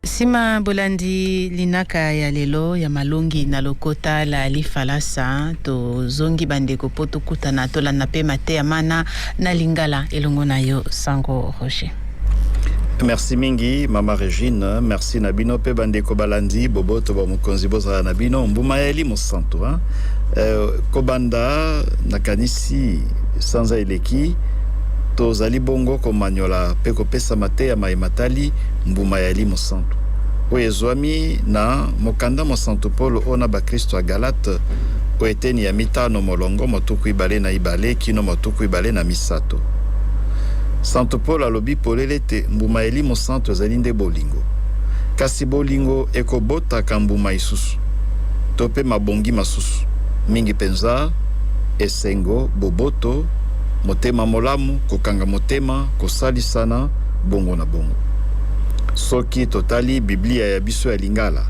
Sima bolandi linaka ya lelo ya malongi na lokota la lifalasa, tozongi bandeko mpo tokutana tolanda mpe mateya mana na lingala elongo na yo Sango Roger. Merci mingi mama Regine, merci na bino pe bandeko balandi boboto ba mokonzi bozala na bino mbuma ya elimo santu hein? Euh, kobanda nakanisi sanza eleki tozali bongo komanyola pe kopesa mateya mai matali Mbuma ya elimo santu oyo ezwami na mokanda mwa Santu Polo ona bakristo ya Galate o eteni ya mitano molongo mwa tuku ibale na ibale kino mwa tuku ibale na misato. Santu Polo alobi polele ete mbuma ya elimo santu ezali nde bolingo. Kasi bolingo ekobotaka mbuma isusu, to mpe mabongi masusu, mingi mpenza esengo, boboto, motema molamu, kokanga motema, kosalisana, Bongo na bongo. Soki totali Biblia ya biso ya Lingala,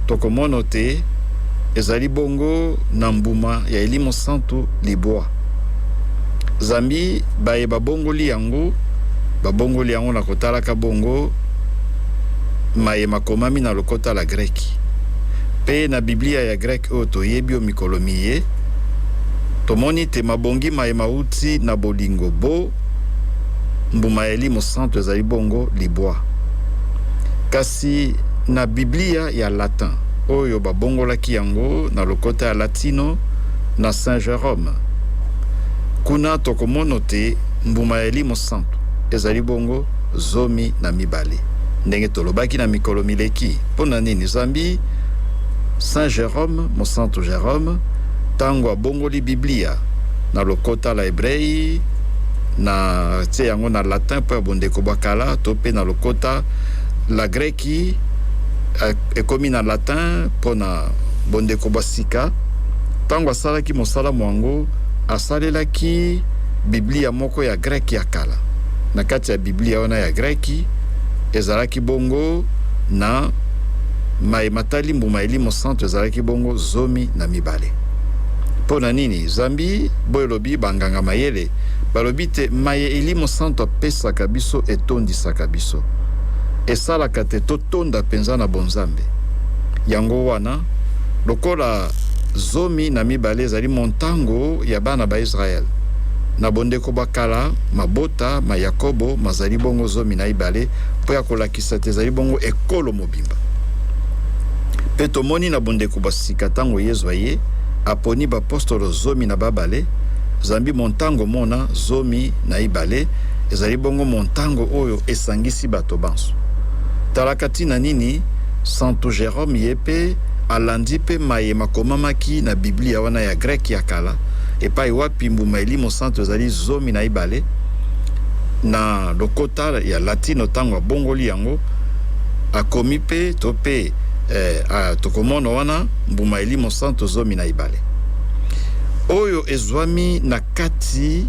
tokomono te ezali bongo na mbuma ya elimo santu libwa. Zambi baye babongoli yango, babongoli yango na kotalaka bongo maye makomami na lokota la Greki. Pe na Biblia ya Greki oyo toyebi o mikolo miye, tomoni te mabongi maye mauti na bolingo bo mbuma ya elimo santu ezali bongo libwa. Kasi na Biblia ya Latin, oyo babongolaki yango na lokota ya Latino na Saint Jerome, kuna tokomono te mbuma ya elimo santu ezali bongo zomi na mibale. Ndenge tolobaki na mikolo mileki, mpo na nini zambi Saint Jerome, mosantu Jerome, ntango abongoli Biblia na lokota la ebrei na tie yango na latin mpo ya bondeko bwa kala to mpe na lokota la greki eh, ekomi na latin mpo na bondeko bwa sika ntango asalaki mosala mwango asalelaki biblia moko ya greki ya kala na kati ya biblia wana ya greki ezalaki bongo na mai matali mbuma elimo santo ezalaki bongo zomi na mibale mpo na nini Zambi boye olobi ba nganga mayele balobi te maye elimo santu apesaka biso etondisaka biso esalaka te totonda penza na bonzambe yango wana lokola zomi na mibale ezali montango ya bana ba Israel na bondeko bwa kala mabota ma Yakobo mazali bongo zomi na ibale mpo ya kolakisa te ezali bongo ekolo mobimba. Mpe tomoni na bondeko bwa sika ntango Yezu aye, aponi bapostolo zomi na babale, zambi montango mona zomi na ibale ezali bongo montango oyo esangisi bato banso. Talaka ntina nini santu Jerome ye mpe alandi mpe maye makomamaki na Biblia wana ya Greke ya kala, epai wapi mbuma elimo santu ezali zomi na ibale, na lokota ya Latino ntango abongoli yango, Akomi pe to pe eh, ah, tokomono wana mbuma elimo santo zomi na ibale oyo ezwami na kati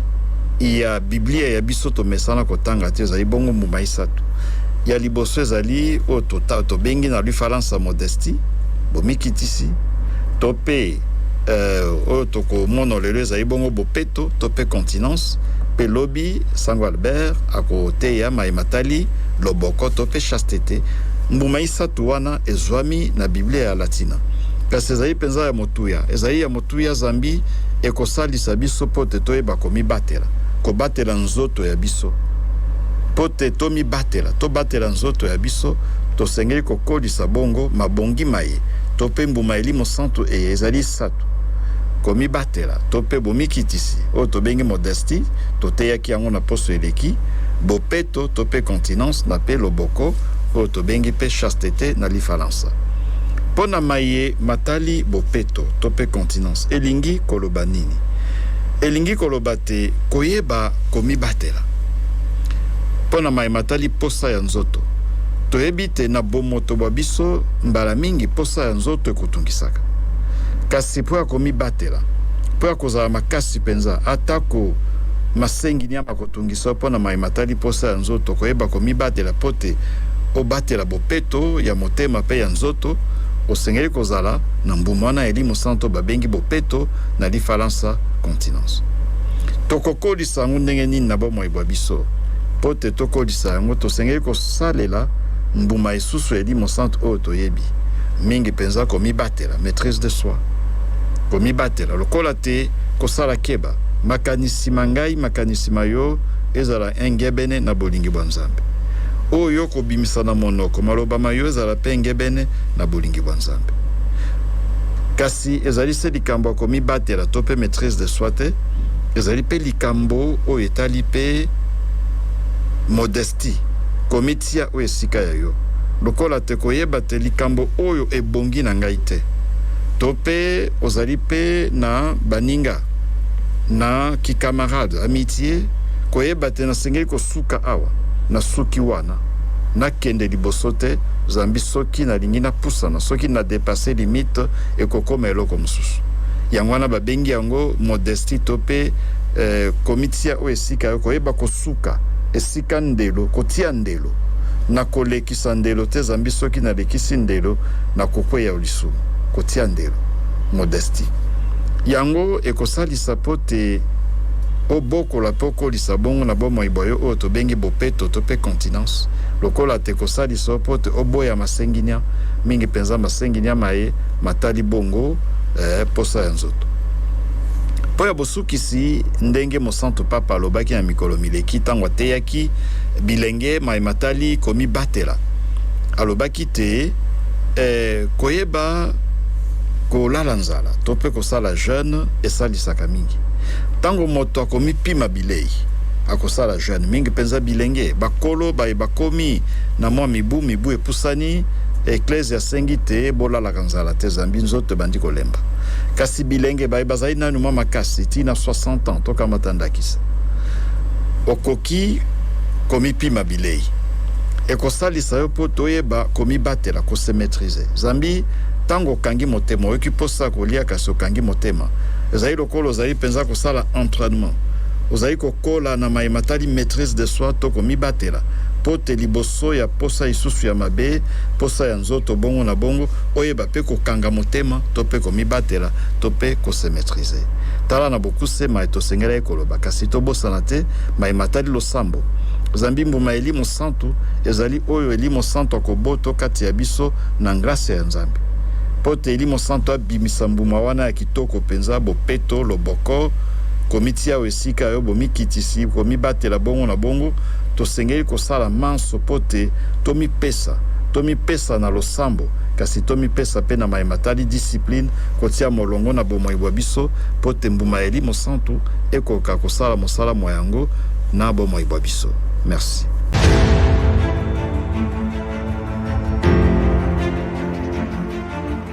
ya Biblia ya biso tomesana kotanga te ezali bongo mbuma isato. Ya liboso ezali oyo tobengi na lufalansa modesti, bomikitisi to pe eh, oyo tokomono lelo ezali bongo bopeto to pe continence pe lobi sango Albert akoteya mai matali lobokoto mpe chastete, mbuma isato wana ezwami na Biblia ya Latina. Kasi ezali mpenza ya motuya? Ezali ya motuya zambi ekosalisa biso mpo te toyeba komibatela, kobatela nzoto ya biso. Mpo te tomibatela, tobatela nzoto ya biso, tosengeli kokolisa bongo mabongi maye to mpe mbuma elimo santu eye ezali isato. Komibatela to mpe bomikitisi oyo tobengi modestie, toteyaki yango na poso eleki, bopeto to mpe continence na mpe loboko oyo tobengi mpe chastete na lifalansa. Mpo na maye matali bopeto to mpe continence elingi koloba nini? Elingi koloba te koyeba komibatela. Mpo na maye matali mposa ya nzoto, toyebi te na bomoto bwa biso mbala mingi mposa ya nzoto ekotungisaka. Kasi mpo ya komibatela, mpo ya kozala makasi mpenza, atako masenginia Kotungisa mpo na maye matali mposa ya nzoto, koyeba komibatela mpo te obatela bopeto ya motema mpe ya nzoto, osengeli kozala na mbuma wana ya elimo santo babengi bopeto, na lifalansa, continence. Tokokolisa yango ndenge nini na bomoi bwa biso? Mpo te tokolisa yango, tosengeli kosalela mbuma esusu ya elimo santo oyo toyebi, mingi mpenza komibatela, maitrise de soi, komibatela lokola te kosala keba. makanisi ma ngai, makanisi ma yo ezala engebene na bolingi bwa Nzambe. Oyo yo okobimisa na monoko, maloba ma yo ezala mpe engebene na bolingi bwa Nzambe. Kasi ezali se likambo ya komibatela to mpe maitrise de soi te, ezali mpe likambo oyo etali mpe modestie, komitika. Tia oyo esika ya yo, lokola te koyeba te likambo oyo ebongi na ngai te. To pe ozali pe na baninga, na ki camarade, amitie, koyeba te nasengeli kosuka awa, nasuki wana, nakende liboso te, zambi soki nalingi napusana, soki na depasser limite, ekokoma eloko mosusu. Yango wana babengi yango modestie to pe eh, komitia oyo esika yo, koyeba kosuka. suka esika ndelo kotia ndelo na kolekisa ndelo te zambi soki na lekisi ndelo na kokweya o lisumu kotia ndelo modestie yango ekosalisa po te obokola pe okolisa bongo na bomoi bwa yo oyo tobengi bopeto to pe continence lokola te ekosalisa yo po te oboya masenginia mingi penza masenginia maye matali bongo eh, posa ya nzoto po ya bosuki Kasi, ndenge Mosantu Papa alobaki na mikolo mileki ntango ateyaki bilenge maye matali komibatela, alobaki te, Ee, koyeba kolala nzala to mpe kosala jeune esalisaka mingi. Ntango moto akomipima bilei, akosala jeune, mingi mpenza bilenge. Bakolo baye bakomi na mwa mibu, mibu epusani, Eklezia asengi te bolala kaka. Kaka nzala te, zambi nzoto ebandi kolemba. Kasi bilenge baye bazali nanu mwa makasi ti na 60 ans, tokamata ndakisa. Okoki komipima bilei. Ekosalisa yo mpo toyeba komibatela, ko se maitriser. Zambi tango okangi motema, oyoki mposa ya kolia kasi okangi motema, ezali lokola ozali mpenza kosala entrainement. Ozali kokola na maye matali maitrise de soi to komibatela mpo te liboso, liboso ya mposa isusu ya mabe, mposa ya nzoto, bongo na bongo, oyeba pe kokanga motema, to pe komibatela, to pe ko se maitriser. Tala na bokuse maye tosengelaki koloba, kasi tobosana te maye matali losambo. Zambi mbuma ya elimo santu ezali oyo elimo santu akoboto kati ya biso na ngrasya ya Nzambe. Mpo te elimo santu abimisa mbuma wana ya kitoko mpenza, bopeto, loboko, komitia o esika ya Nzambe, Tika yo bomikitisi, komibatela, bongo na bongo, tosengeli kosala manso mpo te tomipesa, tomipesa na losambo, kasi tomipesa mpe na maye matali discipline, kotia molongo na bomoi bwa biso, mpo te mbuma ya Elimo Santu ekoka kosala mosala mwa yango na bomoi bwa biso. Merci.